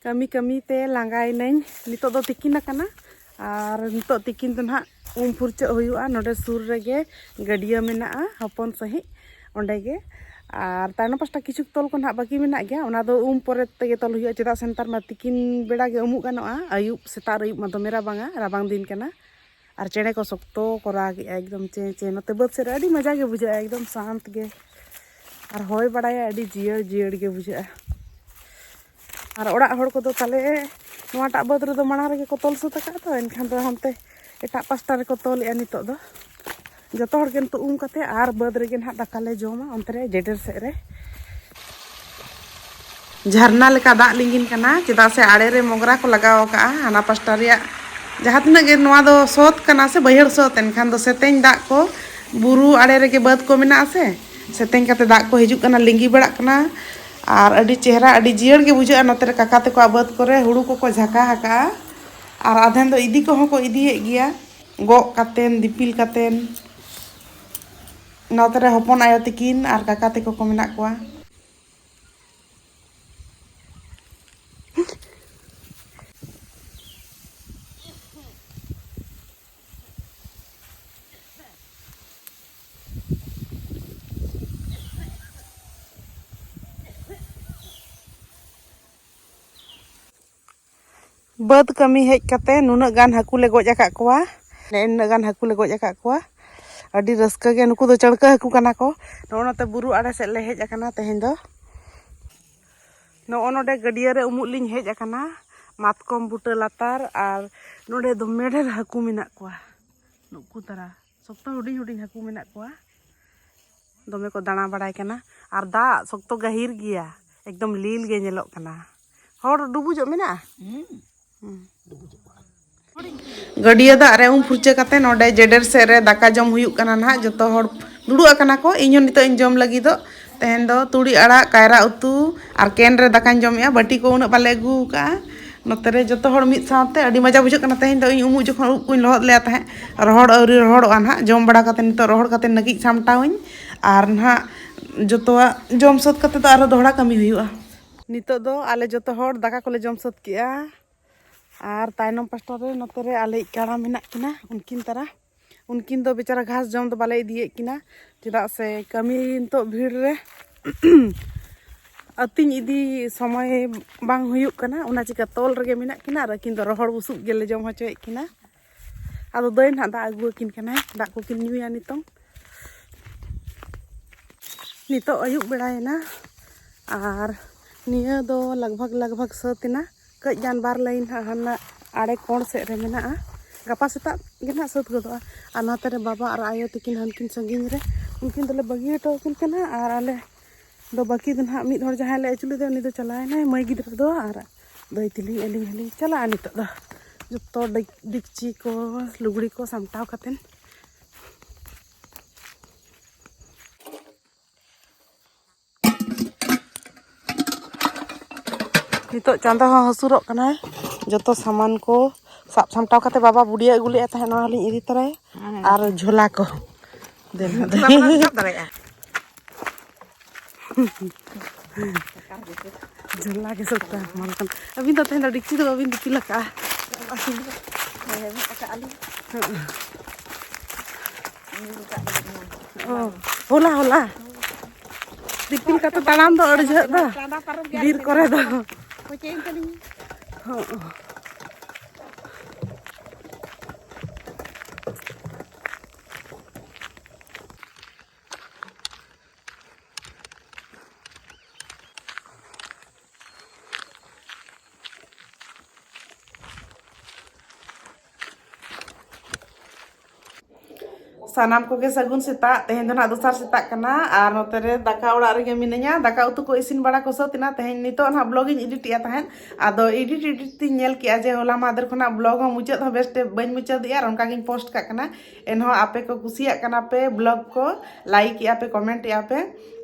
ᱠᱟᱹᱢᱤ ᱠᱟᱹᱢᱤ ᱛᱮ ᱞᱟᱸᱜᱟᱭᱮᱱᱟᱹᱧ ᱱᱤᱛᱚᱜ ᱫᱚ ᱛᱤᱠᱤᱱ ᱟᱠᱟᱱᱟ ᱟᱨ ᱱᱤᱛᱚᱜ ᱛᱤᱠᱤᱱ ᱫᱚ ᱱᱟᱦᱟᱜ ᱩᱢ ᱯᱷᱩᱨᱪᱟᱹᱜ ᱦᱩᱭᱩᱜᱼᱟ ᱱᱚᱰᱮ ᱥᱩᱨ ᱨᱮᱜᱮ ᱜᱟᱹᱰᱭᱟᱹ ᱢᱮᱱᱟᱜᱼᱟ ᱦᱚᱯᱚᱱ ᱥᱟᱺᱦᱤᱡ ᱚᱸᱰᱮ ᱜᱮ ᱟᱨ ᱛᱟᱭᱱᱚᱢ ᱯᱟᱥᱴᱟ ᱠᱤᱪᱷᱩ ᱛᱚᱞ ᱠᱚ ᱱᱟᱦᱟᱜ ᱵᱟᱹᱠᱤ ᱢᱮᱱᱟᱜ ᱜᱮᱭᱟ ᱚᱱᱟ ᱫᱚ ᱩᱢ ᱯᱚᱨᱮ ᱛᱮᱜᱮ ᱛᱚᱞ ᱦᱩᱭᱩᱜᱼᱟ ᱪᱮᱫᱟᱜ ᱥᱮ ᱱᱮᱛᱟᱨ ᱢᱟ ᱛᱤᱠᱤᱱ ᱵᱮᱲᱟ ᱜᱮ ᱩᱢᱩᱜ ᱜᱟᱱᱚᱜᱼᱟ ᱟᱹᱭᱩᱵ ᱥᱮᱛᱟᱜ ᱟᱹᱭᱩᱵ ᱢᱟ ᱫᱚᱢᱮ ᱨᱟᱵᱟᱝᱟ ᱨᱟᱵᱟᱝ ᱫᱤᱱ ᱠᱟᱱᱟ ᱟᱨ ᱪᱮᱬᱮ ᱠᱚ ᱥᱚᱠᱛᱚ ᱠᱚ ᱨᱟᱜᱮᱜᱼᱟ ᱮᱠᱫᱚᱢ ᱪᱮ ᱪᱮ ᱱᱚᱛᱮ ᱵᱟᱹᱫᱽ ᱥᱮᱫ ᱨᱮ ᱟᱹᱰᱤ ᱢᱚᱡᱟ ᱜᱮ ᱵᱩᱡᱷᱟᱹᱜᱼᱟ ᱮᱠᱫᱚᱢ ᱥᱟᱱᱛ ᱜᱮ ᱟᱨ ᱦᱚᱭ ᱵᱟᱲᱟᱭᱟ ᱟᱹᱰᱤ ᱡᱤᱭᱟᱹᱲ ᱡᱤᱭᱟᱹᱲ ᱜᱮ ᱵᱩᱡᱷᱟᱹᱜᱼᱟ ᱟᱨ ᱚᱲᱟᱜ ᱦᱚᱲ ᱠᱚᱫᱚ ᱛᱟᱞᱮ ᱱᱚᱣᱟᱴᱟᱜ ᱵᱟᱹᱫᱽ ᱨᱮᱫᱚ ᱢᱟᱲᱟᱝ ᱨᱮᱜᱮ ᱠᱚ ᱛᱚᱞ ᱥᱟᱹᱛ ᱟᱠᱟᱫ ᱫᱚ ᱮᱱᱠᱷᱟᱱ ᱫᱚ ᱦᱟᱱᱛᱮ ᱮᱴᱟᱜ ᱯᱟᱥᱴᱟ ᱨᱮᱠᱚ ᱛᱚᱞᱮᱜᱼᱟ ᱱᱤᱛᱚᱜ ᱫᱚ ᱡᱚᱛᱚ ᱦᱚᱲ ᱜᱮ ᱱᱤᱛᱚᱜ ᱩᱢ ᱠᱟᱛᱮ ᱟᱨ ᱵᱟᱹᱫᱽ ᱨᱮᱜᱮ ᱱᱟᱦᱟᱜ ᱫᱟᱠᱟ ᱞᱮ ᱡᱚᱢᱟ ᱚᱱᱛᱮ ᱨᱮ ᱡᱮᱰᱮᱨ ᱥᱮᱫ ᱨᱮ ᱡᱷᱟᱨᱱᱟ ᱞᱮᱠᱟ ᱫᱟᱜ ᱞᱤᱸᱜᱤᱱ ᱠᱟᱱᱟ ᱪᱮᱫᱟᱜ ᱥᱮ ᱟᱲᱮ ᱨᱮ ᱢᱚᱜᱽᱨᱟ ᱠᱚ ᱞᱟᱜᱟᱣ ᱟᱠᱟᱜᱼᱟ ᱦᱟᱱᱟ ᱯᱟᱥᱴᱟ ᱨᱮᱭᱟᱜ ᱡᱟᱦᱟᱸ ᱛᱤᱱᱟᱹᱜ ᱜᱮ ᱱᱚᱣᱟ ᱫᱚ ᱥᱚᱛ ᱠᱟᱱᱟ ᱥᱮ ᱵᱟᱹᱭᱦᱟᱹᱲ ᱥᱚᱛ ᱮᱱᱠᱷᱟᱱ ᱫᱚ ᱥᱮᱛᱮᱧ ᱫᱟᱜ ᱠᱚ ᱵᱩᱨᱩ ᱟᱲᱮ ᱨᱮᱜᱮ ᱵᱟᱹᱫᱽ ᱠᱚ ᱢᱮᱱᱟᱜᱼᱟ ᱥᱮ ᱥᱮᱛᱮᱧ ᱠᱟᱛᱮ ᱫᱟᱜ ᱠᱚ ᱦᱤᱡᱩᱜ ᱠᱟᱱᱟ ᱞᱤᱸᱜᱤ ᱵᱟᱲᱟᱜ ᱠᱟᱱᱟ ᱟᱨ ᱟᱹᱰᱤ ᱪᱮᱦᱨᱟ ᱟᱹᱰᱤ ᱡᱤᱭᱟᱹᱲ ᱜᱮ ᱵᱩᱡᱷᱟᱹᱜᱼᱟ ᱱᱚᱛᱮ ᱨᱮ ᱠᱟᱠᱟ ᱛᱟᱠᱚᱣᱟᱜ ᱵᱟᱹᱫᱽ ᱠᱚᱨᱮ ᱦᱩᱲᱩ ᱠᱚᱠᱚ ᱡᱷᱟᱠᱟ ᱟᱠᱟᱜᱼᱟ ᱟᱨ ᱟᱫᱷᱮᱱ ᱫᱚ ᱤᱫᱤ ᱠᱚᱦᱚᱸ ᱠᱚ ᱤᱫᱤᱭᱮᱫ ᱜᱮᱭᱟ ᱜᱚᱜ ᱠᱟᱛᱮᱱ ᱫᱤᱯᱤᱞ ᱠᱟᱛᱮᱱ ᱱᱚᱛᱮ ᱨᱮ ᱦᱚᱯᱚᱱ ᱟᱭᱳ ᱛᱟᱹᱠᱤᱱ ᱟᱨ ᱠᱟᱠᱟ ᱛᱟᱠᱚ ᱠᱚ ᱢᱮᱱᱟᱜ ᱠᱚᱣᱟ ᱵᱟᱹᱫᱽ ᱠᱟᱹᱢᱤ ᱦᱮᱡ ᱠᱟᱛᱮ ᱱᱩᱱᱟᱹᱜ ᱜᱟᱱ ᱦᱟᱹᱠᱩ ᱞᱮ ᱜᱚᱡ ᱟᱠᱟᱫ ᱠᱚᱣᱟ ᱱᱩᱱᱟᱹᱜ ᱜᱟᱱ ᱦᱟᱹᱠᱩ ᱞᱮ ᱜᱚᱡ ᱟᱠᱟᱫ ᱠᱚᱣᱟ ᱟᱹᱰᱤ ᱨᱟᱹᱥᱠᱟᱹ ᱜᱮ ᱱᱩᱠᱩ ᱫᱚ ᱪᱟᱹᱲᱠᱟᱹ ᱦᱟᱹᱠᱩ ᱠᱟᱱᱟ ᱠᱚ ᱱᱚᱜᱼᱚ ᱱᱚᱛᱮ ᱵᱩᱨᱩ ᱟᱲᱮ ᱥᱮᱫ ᱞᱮ ᱦᱮᱡ ᱟᱠᱟᱱᱟ ᱛᱮᱦᱮᱧ ᱫᱚ ᱱᱚᱜᱼᱚ ᱱᱚᱰᱮ ᱜᱟᱹᱰᱭᱟᱹ ᱨᱮ ᱩᱢᱩᱜ ᱞᱤᱧ ᱦᱮᱡ ᱟᱠᱟᱱᱟ ᱢᱟᱛᱠᱚᱢ ᱵᱩᱴᱟᱹ ᱞᱟᱛᱟᱨ ᱟᱨ ᱱᱚᱰᱮ ᱫᱚᱢᱮ ᱰᱷᱮᱨ ᱦᱟᱹᱠᱩ ᱢᱮᱱᱟᱜ ᱠᱚᱣᱟ ᱱᱩᱠᱩ ᱛᱟᱨᱟ ᱥᱚᱠᱛᱚ ᱦᱩᱰᱤᱧ ᱦᱩᱰᱤᱧ ᱦᱟᱹᱠᱩ ᱢᱮᱱᱟᱜ ᱠᱚᱣᱟ ᱫᱚᱢᱮ ᱠᱚ ᱫᱟᱬᱟ ᱵᱟᱲᱟᱭ ᱠᱟᱱᱟ ᱟᱨ ᱫᱟᱜ ᱥᱚᱠᱛᱚ ᱜᱟᱹᱦᱤᱨ ᱜᱮᱭᱟ ᱮᱠᱫᱚᱢ ᱞᱤᱞ ᱜᱮ ᱧᱮᱞᱚᱜ ᱠᱟᱱᱟ ᱦᱚᱲ ᱰᱩᱵᱩᱡᱚᱜ ᱢᱮᱱᱟᱜᱼᱟ ᱜᱟᱹᱰᱭᱟᱹ ᱫᱟᱜ ᱨᱮ ᱩᱢ ᱯᱷᱩᱨᱪᱟᱹ ᱠᱟᱛᱮ ᱱᱚᱰᱮ ᱡᱮᱰᱮᱨ ᱥᱮᱫ ᱨᱮ ᱫᱟᱠᱟ ᱡᱚᱢ ᱦᱩᱭᱩᱜ ᱠᱟᱱᱟ ᱱᱟᱦᱟᱜ ᱡᱚᱛᱚ ᱦᱚᱲ ᱫᱩᱲᱩᱵ ᱟᱠᱟᱱᱟ ᱠᱚ ᱤᱧ ᱦᱚᱸ ᱱᱤᱛᱚᱜ ᱤᱧ ᱡᱚᱢ ᱞᱟᱹᱜᱤᱫᱚᱜ ᱛᱮᱦᱮᱧ ᱫᱚ ᱛᱩᱲᱤ ᱟᱲᱟᱜ ᱠᱟᱭᱨᱟ ᱩᱛᱩ ᱟᱨ ᱠᱮᱱ ᱨᱮ ᱫᱟᱠᱟᱧ ᱡᱚᱢᱮᱜᱼᱟ ᱵᱟᱹᱴᱤ ᱠᱚ ᱩᱱᱟᱹᱜ ᱵᱟᱞᱮ ᱟᱹᱜᱩ ᱟᱠᱟᱜᱼᱟ ᱱᱚᱛᱮ ᱨᱮ ᱡᱚᱛᱚ ᱦᱚᱲ ᱢᱤᱫ ᱥᱟᱶᱛᱮ ᱟᱹᱰᱤ ᱢᱚᱡᱟ ᱵᱩᱡᱷᱟᱹᱜ ᱠᱟᱱᱟ ᱛᱮᱦᱮᱧ ᱫᱚ ᱤᱧ ᱩᱢᱩᱜ ᱡᱚᱠᱷᱚᱱ ᱩᱵ ᱠᱚᱧ ᱞᱚᱦᱚᱫ ᱞᱮᱫᱟ ᱛᱟᱦᱮᱸᱫ ᱨᱚᱦᱚᱲ ᱟᱹᱣᱨᱤ ᱨᱚᱦᱚᱲᱚᱜᱼᱟ ᱱᱟᱦᱟᱜ ᱡᱚᱢ ᱵᱟᱲᱟ ᱠᱟᱛᱮ ᱱᱤᱛᱚᱜ ᱨᱚᱦᱚᱲ ᱠᱟᱛᱮ ᱱᱟᱹᱠᱤᱡ ᱥᱟᱢᱴᱟᱣᱟᱹᱧ ᱟᱨ ᱱᱟᱦᱟᱜ ᱡᱚᱛᱚᱣᱟᱜ ᱡᱚᱢ ᱥᱟᱹᱛ ᱠᱟᱛᱮ ᱫᱚ ᱟᱨᱦᱚᱸ ᱫᱚᱦᱲᱟ ᱠᱟᱹᱢᱤ ᱦᱩᱭᱩᱜᱼᱟ ᱱᱤᱛᱚᱜ ᱫᱚ ᱟᱞᱮ ᱡᱚᱛᱚ ᱦᱚᱲ ᱫᱟᱠᱟ ᱠᱚᱞᱮ ᱡᱚᱢ ᱥᱟᱹᱛ ᱠᱮᱜᱼᱟ ᱟᱨ ᱛᱟᱭᱱᱚᱢ ᱯᱟᱥᱴᱟ ᱨᱮ ᱱᱚᱛᱮ ᱨᱮ ᱟᱞᱮᱭᱤᱡ ᱠᱟᱲᱟ ᱢᱮᱱᱟᱜ ᱠᱤᱱᱟ ᱩᱱᱠᱤᱱ ᱛᱟᱨᱟ ᱩᱱᱠᱤᱱ ᱫᱚ ᱵᱮᱪᱟᱨᱟ ᱜᱷᱟᱥ ᱡᱚᱢ ᱫᱚ ᱵᱟᱞᱮ ᱤᱫᱤᱭᱮᱫ ᱠᱤᱱᱟ ᱪᱮᱫᱟᱜ ᱥᱮ ᱠᱟᱹᱢᱤ ᱱᱤᱛᱚᱜ ᱵᱷᱤᱲ ᱨᱮ ᱟᱹᱛᱤᱧ ᱤᱫᱤ ᱥᱚᱢᱚᱭ ᱵᱟᱝ ᱦᱩᱭᱩᱜ ᱠᱟᱱᱟ ᱚᱱᱟ ᱪᱤᱠᱟᱹ ᱛᱚᱞ ᱨᱮᱜᱮ ᱢᱮᱱᱟᱜ ᱠᱤᱱᱟ ᱟᱨ ᱟᱹᱠᱤᱱ ᱫᱚ ᱨᱚᱦᱚᱲ ᱵᱩᱥᱩᱵ ᱜᱮᱞᱮ ᱡᱚᱢ ᱦᱚᱪᱚᱭᱮᱫ ᱠᱤᱱᱟ ᱟᱫᱚ ᱫᱟᱹᱭ ᱱᱟᱦᱟᱜ ᱫᱟᱜ ᱟᱹᱜᱩ ᱟᱹᱠᱤᱱ ᱠᱟᱱᱟᱭ ᱫᱟᱜ ᱠᱚᱠᱤᱱ ᱧᱩᱭᱟ ᱱᱤᱛᱚᱝ ᱱᱤᱛᱚᱜ ᱟᱹᱭᱩᱵ ᱵᱮᱲᱟᱭᱮᱱᱟ ᱟᱨ ᱱᱤᱭᱟᱹ ᱫᱚ ᱞᱟᱜᱽᱵᱷᱟᱜᱽ ᱞᱟᱜᱽᱵᱷᱟᱜᱽ ᱥᱟᱹᱛ ᱮᱱᱟ ᱠᱟᱹᱡ ᱜᱟᱱ ᱵᱟᱨ ᱞᱟᱭᱤᱱ ᱦᱟᱸᱜ ᱦᱟᱱᱟ ᱟᱲᱮ ᱠᱚᱬ ᱥᱮᱫ ᱨᱮ ᱢᱮᱱᱟᱜᱼᱟ ᱜᱟᱯᱟ ᱥᱮᱛᱟᱜ ᱜᱮ ᱱᱟᱦᱟᱜ ᱥᱟᱹᱛ ᱜᱚᱫᱚᱜᱼᱟ ᱟᱨ ᱱᱚᱛᱮ ᱨᱮ ᱵᱟᱵᱟ ᱟᱨ ᱟᱭᱳ ᱛᱤᱠᱤᱱ ᱦᱟᱱᱠᱤᱱ ᱥᱟᱺᱜᱤᱧ ᱨᱮ ᱩᱱᱠᱤᱱ ᱫᱚᱞᱮ ᱵᱟᱹᱜᱤ ᱦᱚᱴᱚ ᱟᱹᱠᱤᱱ ᱠᱟᱱᱟ ᱟᱨ ᱟᱞᱮ ᱫᱚ ᱵᱟᱹᱠᱤ ᱫᱚ ᱱᱟᱦᱟᱜ ᱢᱤᱫ ᱦᱚᱲ ᱡᱟᱦᱟᱸᱭ ᱞᱮ ᱟᱹᱪᱩ ᱞᱮᱫᱮ ᱩᱱᱤ ᱫᱚ ᱪᱟᱞᱟᱣᱮᱱᱟᱭ ᱢᱟᱹᱭ ᱜᱤᱫᱽᱨᱟᱹ ᱫᱚ ᱟᱨ ᱫᱟᱹᱭ ᱛᱮᱞᱤᱧ ᱟᱹᱞᱤᱧ ᱦᱚᱸᱞᱤᱧ ᱪᱟᱞᱟᱜᱼᱟ ᱱᱤᱛᱚᱜ ᱫᱚ ᱡᱚᱛᱚ ᱰᱮᱠᱪᱤ ᱠᱚ ᱞᱩᱜᱽᱲᱤ ᱠᱚ ᱥᱟᱢᱴᱟᱣ ᱠᱟᱛᱮᱱ ᱱᱤᱛᱚᱜ ᱪᱟᱸᱫᱚ ᱦᱚᱸ ᱦᱟᱹᱥᱩᱨᱚᱜ ᱠᱟᱱᱟᱭ ᱡᱚᱛᱚ ᱥᱟᱢᱟᱱ ᱠᱚ ᱥᱟᱵ ᱥᱟᱢᱴᱟᱣ ᱠᱟᱛᱮ ᱵᱟᱵᱟ ᱵᱩᱰᱤᱭᱟ ᱟᱹᱜᱩ ᱞᱮᱫᱼᱟ ᱛᱟᱦᱮᱸᱫ ᱱᱚᱣᱟ ᱦᱚᱸᱞᱤᱧ ᱤᱫᱤ ᱛᱚᱨᱟᱭᱟ ᱟᱨ ᱡᱷᱚᱞᱟ ᱠᱚ ᱫᱮᱞᱟ ᱫᱟᱲᱮᱭᱟᱜᱼᱟ ᱡᱷᱚᱞᱟ ᱜᱮ ᱥᱚᱛᱟ ᱢᱟᱱ ᱠᱟᱱ ᱟᱹᱵᱤᱱ ᱫᱚ ᱛᱮᱦᱮᱧ ᱫᱚ ᱰᱤᱠᱪᱤ ᱫᱚ ᱵᱟᱹᱵᱤᱱ ᱫᱤᱯᱤᱞ ᱟᱠᱟᱜᱼᱟ ᱦᱚᱞᱟ ᱦᱚᱞᱟ ᱫᱤᱯᱤᱞ ᱠᱟᱛᱮ ᱛᱟᱲᱟᱢ ᱫᱚ ᱟᱹᱰᱤ ᱡᱷᱟᱹᱜ ᱫᱚ ᱵᱤᱨ ᱠᱚᱨᱮ ᱫᱚ ᱥᱟᱱᱟᱢ ᱠᱚᱜᱮ ᱥᱟᱹᱜᱩᱱ ᱥᱮᱛᱟᱜ ᱛᱮᱦᱮᱧ ᱫᱚ ᱱᱟᱜ ᱫᱚᱥᱟᱨ ᱥᱮᱛᱟᱜ ᱠᱟᱱᱟ ᱟᱨ ᱱᱚᱛᱮ ᱨᱮ ᱫᱟᱠᱟ ᱚᱲᱟᱜ ᱨᱮᱜᱮ ᱢᱤᱱᱟᱹᱧᱟ ᱫᱟᱠᱟ ᱩᱛᱩ ᱠᱚ ᱤᱥᱤᱱ ᱵᱟᱲᱟ ᱠᱚ ᱥᱟᱹᱛ ᱮᱱᱟ ᱛᱮᱦᱮᱧ ᱱᱤᱛᱚᱜ ᱱᱟᱜ ᱵᱞᱚᱜ ᱤᱧ ᱮᱰᱤᱴ ᱮᱫᱟ ᱛᱟᱦᱮᱸᱫ ᱟᱫᱚ ᱮᱰᱤᱴ ᱮᱰᱤᱴ ᱛᱤᱧ ᱧᱮᱞ ᱠᱮᱫᱼᱟ ᱡᱮ ᱦᱚᱞᱟ ᱢᱟᱫᱷᱮᱨ ᱠᱷᱚᱱᱟᱜ ᱵᱞᱚᱜ ᱦᱚᱸ ᱢᱩᱪᱟᱹᱫ ᱦᱚᱸ ᱵᱮᱥᱛᱮ ᱵᱟᱹᱧ ᱢᱩᱪᱟᱹᱫᱮᱜᱼᱟ ᱟᱨ ᱚᱱᱠᱟᱜᱤᱧ ᱯᱳᱥᱴ ᱠᱟᱜ ᱠᱟᱱᱟ ᱮᱱᱦᱚᱸ ᱟᱯᱮ ᱠᱚ ᱠᱩᱥᱤᱭᱟᱜ ᱠᱟᱱᱟ ᱯᱮ ᱵᱞᱚᱜ ᱠᱚ ᱞᱟᱭᱤᱠ ᱮᱜᱼᱟ ᱯᱮ ᱠᱚᱢᱮᱱᱴ ᱮᱜᱼᱟ ᱯᱮ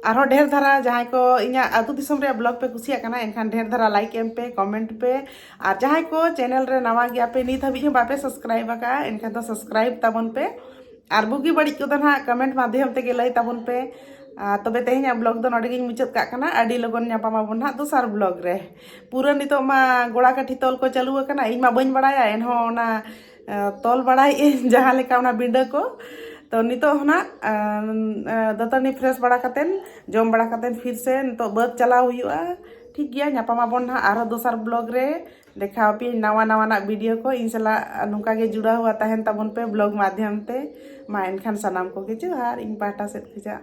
ᱟᱨᱦᱚᱸ ᱰᱷᱮᱨ ᱫᱷᱟᱨᱟ ᱡᱟᱦᱟᱸᱭ ᱠᱚ ᱤᱧᱟᱹᱜ ᱟᱹᱛᱩ ᱫᱤᱥᱚᱢ ᱨᱮᱭᱟᱜ ᱵᱞᱚᱜ ᱯᱮ ᱠᱩᱥᱤᱭᱟᱜ ᱠᱟᱱᱟ ᱮᱱᱠᱷᱟᱱ ᱰᱷᱮᱨ ᱫᱷᱟᱨᱟ ᱞᱟᱭᱤᱠ ᱮᱢ ᱯᱮ ᱠᱚᱢᱮᱱᱴ ᱯᱮ ᱟᱨ ᱡᱟᱦᱟᱸᱭ ᱠᱚ ᱪᱮᱱᱮᱞ ᱨᱮ ᱱᱟᱣᱟ ᱜᱮᱭᱟ ᱯᱮ ᱱᱤᱛ ᱦᱟᱹᱵᱤᱡ ᱦᱚᱸ ᱵᱟᱯᱮ ᱥᱟᱵᱥᱠᱨᱟᱭᱤᱵ ᱟᱠᱟᱫᱼᱟ ᱮᱱᱠᱷᱟᱱ ᱫᱚ ᱥᱟᱵᱥᱠᱨᱟᱭᱤᱵ ᱛᱟᱵᱚᱱ ᱯᱮ ᱟᱨ ᱵᱩᱜᱤ ᱵᱟᱹᱲᱤᱡ ᱠᱚᱫᱚ ᱱᱟᱦᱟᱜ ᱠᱚᱢᱮᱱᱴ ᱢᱟᱫᱽᱫᱷᱚᱢ ᱛᱮᱜᱮ ᱞᱟᱹᱭ ᱛᱟᱵᱚᱱ ᱯᱮ ᱛᱚᱵᱮ ᱛᱮᱦᱮᱧᱟᱜ ᱵᱞᱚᱜ ᱫᱚ ᱱᱚᱰᱮ ᱜᱤᱧ ᱢᱩᱪᱟᱹᱫ ᱠᱟᱜ ᱠᱟᱱᱟ ᱟᱹᱰᱤ ᱞᱚᱜᱚᱱ ᱧᱟᱯᱟᱢ ᱟᱵᱚᱱ ᱱᱟᱦᱟᱜ ᱫᱚᱥᱟᱨ ᱵᱞᱚᱜ ᱨᱮ ᱯᱩᱨᱟᱹ ᱱᱤᱛᱚᱜ ᱢᱟ ᱜᱚᱲᱟ ᱠᱟᱹᱴᱷᱤ ᱛᱚᱞ ᱠᱚ ᱪᱟᱹᱞᱩ ᱟᱠᱟᱱᱟ ᱤᱧ ᱢᱟ ᱵᱟᱹᱧ ᱵᱟᱲᱟᱭᱟ ᱮᱱᱦᱚᱸ ᱚᱱᱟ ᱛᱚᱞ ᱵᱟᱲᱟᱭᱮᱫ ᱟᱹᱧ ᱡᱟᱦᱟᱸ ᱞᱮᱠᱟ ᱚᱱᱟ ᱵᱤᱸᱰᱟᱹ ᱠᱚ ᱛᱚ ᱱᱤᱛᱚᱜ ᱦᱚᱱᱟᱜ ᱫᱟᱹᱛᱟᱹᱱᱤ ᱯᱷᱨᱮᱥ ᱵᱟᱲᱟ ᱠᱟᱛᱮᱱ ᱡᱚᱢ ᱵᱟᱲᱟ ᱠᱟᱛᱮᱱ ᱯᱷᱤᱨ ᱥᱮ ᱱᱤᱛᱚᱜ ᱵᱟᱹᱫᱽ ᱪᱟᱞᱟᱣ ᱦᱩᱭᱩᱜᱼᱟ ᱴᱷᱤᱠ ᱜᱮᱭᱟ ᱧᱟᱯᱟᱢᱟᱵᱚᱱ ᱱᱟᱦᱟᱜ ᱟᱨᱦᱚᱸ ᱫᱚᱥᱟᱨ ᱵᱞᱚᱜ ᱨᱮ ᱫᱮᱠᱷᱟᱣ ᱟᱯᱮᱭᱟᱹᱧ ᱱᱟᱣᱟ ᱱᱟᱣᱟᱱᱟᱜ ᱵᱷᱤᱰᱤᱭᱳ ᱠᱚ ᱤᱧ ᱥᱟᱞᱟᱜ ᱱᱚᱝᱠᱟ ᱜᱮ ᱡᱩᱲᱟᱣ ᱦᱩᱭᱟ ᱛᱟᱦᱮᱱ ᱛᱟᱵᱚᱱ ᱯᱮ ᱵᱞᱚᱜ ᱢᱟᱫᱽᱫᱷᱚᱢ ᱛᱮ ᱢᱟ ᱮᱱᱠᱷᱟᱱ ᱥᱟᱱᱟᱢ ᱠᱚᱜᱮ ᱡᱚᱦᱟᱨ ᱤᱧ ᱯᱟᱦᱴᱟ ᱥᱮᱫ ᱠᱷᱚᱱᱟᱜ